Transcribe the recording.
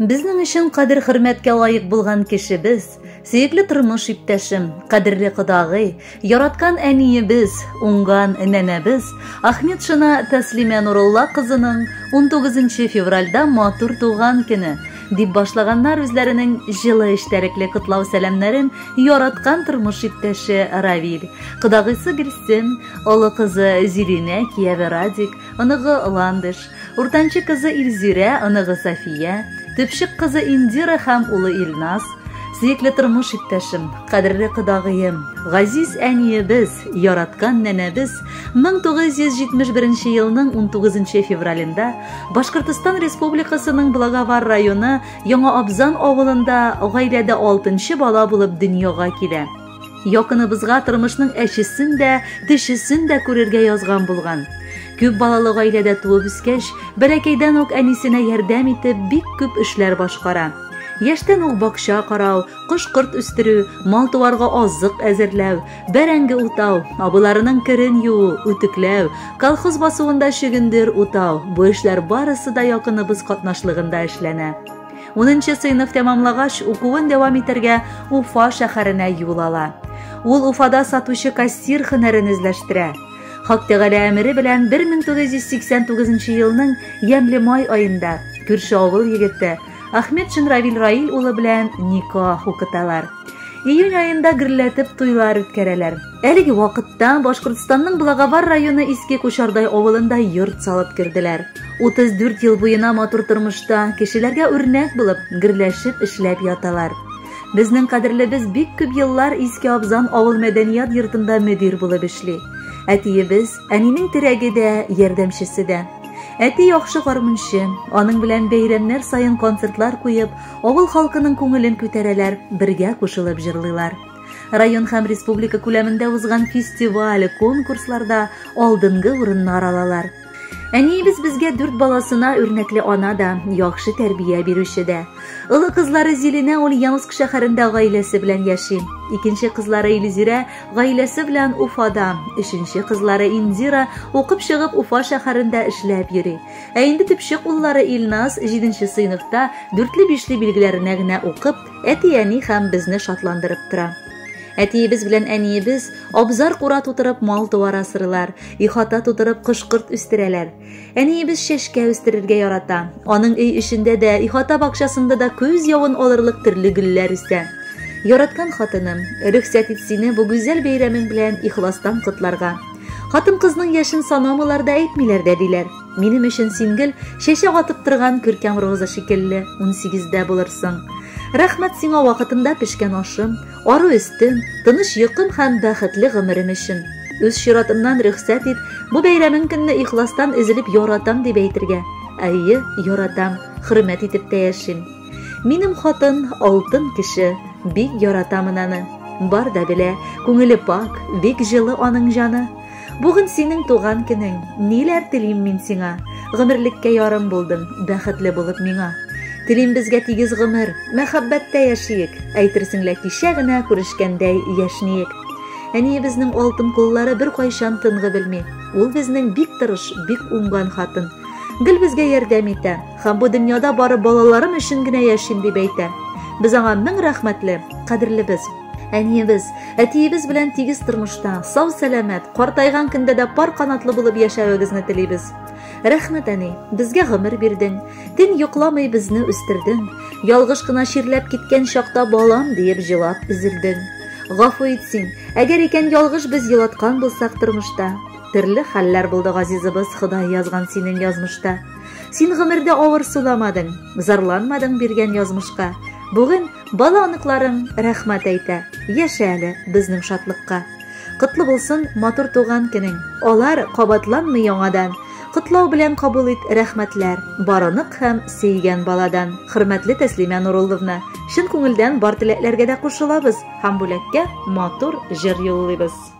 Безнең өчен кадер хөрмәткә лаек булган кешебез, сөекле тормыш иптәшем, кадерле кодагый, яраткан әниебез, уңган нәнәбез Ахметшина Тәслимә Нурулла кызының 19 февральдә матур туган көне дип башлаганнар үзләренең җылы эчтәлекле котлау сәламнәрен яраткан тормыш иптәше Равиль, кодагыйсы Гөлсем, Олы кызы Зиринә, кияве Радик, оныгы Ландыш, уртанчы кызы Илзирә, оныгы Сафия, төпчек кызы Индира һәм улы Илназ, сөекле тормыш иптәшем, кадерле кодагыем, газиз әниебез, яраткан нәнәбез 1971 елның 19 февралендә Башкортостан Республикасының Благовар районы Яңа Абзан авылында гаиләдә алтынчы бала булып дөньяга килә. Якыныбызга тормышның әчесен дә, тешесен дә күрергә язган булган. Күп балалы гаиләдә туып үскәч, бәләкәйдән үк әнисенә ярдәм итеп, бик күп эшләр башкара. Яшьтән үк бакча карау, кош-корт үстерү, мал-туарга азык әзерләү, бәрәңге утау, абыйларының керен юу, үтекләү, колхоз басуында чөгендер утау, бу эшләр барысы да якыныбыз катнашлыгында эшләнә. Унынчы сыйныф тәмамлагач, укуын дәвам итәргә Уфа шәһәренә юл ала. Ул Уфада сатучы кассир һөнәрен үзләштерә. Хак Тәгалә әмере белән 1989 елның ямьле май аенда күрше авыл егете Ахмед Шенравил Раил улы белән никах укыталар. Июнь аенда гөрләтеп туйлар үткәрәләр. Әлеге вакытта Башкортстанның Благовар районы Иске Кушардай авылында йорт салып керделәр. 34 ел буена матур тормышта, кешеләргә үрнәк булып, гөрләшеп эшләп яталар. Безнең кадерлебез бик күп еллар Иске Абзан авыл мәдәният йортында мөдир булып эшли. Әтиебез, әнинең терәге дә, ярдәмчесе дә. Әти яхшы гармунчы, аның белән бәйрәмнәр саен концертлар куеп, авыл халкының күңелен күтәрәләр, бергә кушылып җырлыйлар. Район һәм республика күләмендә узган фестиваль, конкурсларда алдынгы урыннар алалар. Әниебез безгә дүрт баласына үрнәкле ана да, яхшы тәрбия бирүче дә. Олы кызлары Зилинә Ульяновск шәһәрендә гаиләсе белән яши. Икенче кызлары Илзирә гаиләсе белән Уфада. Өченче кызлары Индира укып чыгып Уфа шәһәрендә эшләп йөри. Ә инде төпчек уллары Илназ 7 сыйныфта, дүртле-бишле билгеләренә генә укып, әти-әни һәм безне шатландырып тора. Әтиебез белән әниебез абзар кура тутырып мал туар асырылар, ихата тутырып кошкырт үстерәләр. Әниебез чәшкә үстерергә ярата. Аның өй эчендә дә, ихата бакчасында да көз явын алырлык төрле гөлләр үсә. Яраткан хатыным, рөхсәт ит сине бу гүзәл бәйрәмең белән ихластан котларга. Хатын-кызның яшен санамыйлар да әйтмиләр дә диләр. Минем өчен син гел чәчәк атып торган күркәм роза шикелле, 18-дә булырсың. Рәхмәт сиңа вакытында пешкән ашым, ару өстем, тыныч йокым һәм бәхетле гомерем өчен. Үз чиратымнан рөхсәт ит, бу бәйрәмең көнне ихластан өзелеп яратам дип әйтергә. Әйе, яратам, хөрмәт итеп тә яшим. Минем хатын, алтын кеше, бик яратамын аны. Бар да белә, күңеле пак, бик җылы аның җаны. Бүген синең туган көнең, ниләр телим мин сиңа? Гомерлеккә ярым булдың, бәхетле булып миңа. Телим безгә тигез гомер, мәхәббәттә яшиек, әйтерсең лә кичә генә күрешкәндәй яшниек. Әниебезнең алтын куллары бер кайчан тынгы белми. Ул безнең бик тырыш, бик уңган хатын. Гел безгә ярдәм итә һәм бу дөньяда бары балаларым өчен генә яшим дип әйтә. Без аңа мең рәхмәтле, кадерлебез. Әниебез, әтиебез белән тигез тормышта, сау сәламәт, картайган көндә дә пар канатлы булып яшәвегезне телибез. Рәхмәт, әни, безгә гомер бирдең, төн йокламый безне үстердең, ялгыш кына чирләп киткән чакта балам диеп җылап өзелдең. Гафу ит син, әгәр икән ялгыш без елаткан булсак тормышта. Төрле хәлләр булды газизыбыз, Ходай язган синең язмышта. Син гомердә авыр суламадың, зарланмадың биргән язмышка. Бүген Бала оныкларың рәхмәт әйтә. Яшә әле безнең шатлыкка. Котлы булсын матур туган көнең. Алар кабатланмый яңадан. Котлау белән кабул ит рәхмәтләр. Бар онык һәм сөйгән баладан. Хөрмәтле Тәслимә Нурулловна, чын күңелдән бар теләкләргә дә кушылабыз һәм бүләккә матур җыр юллыйбыз.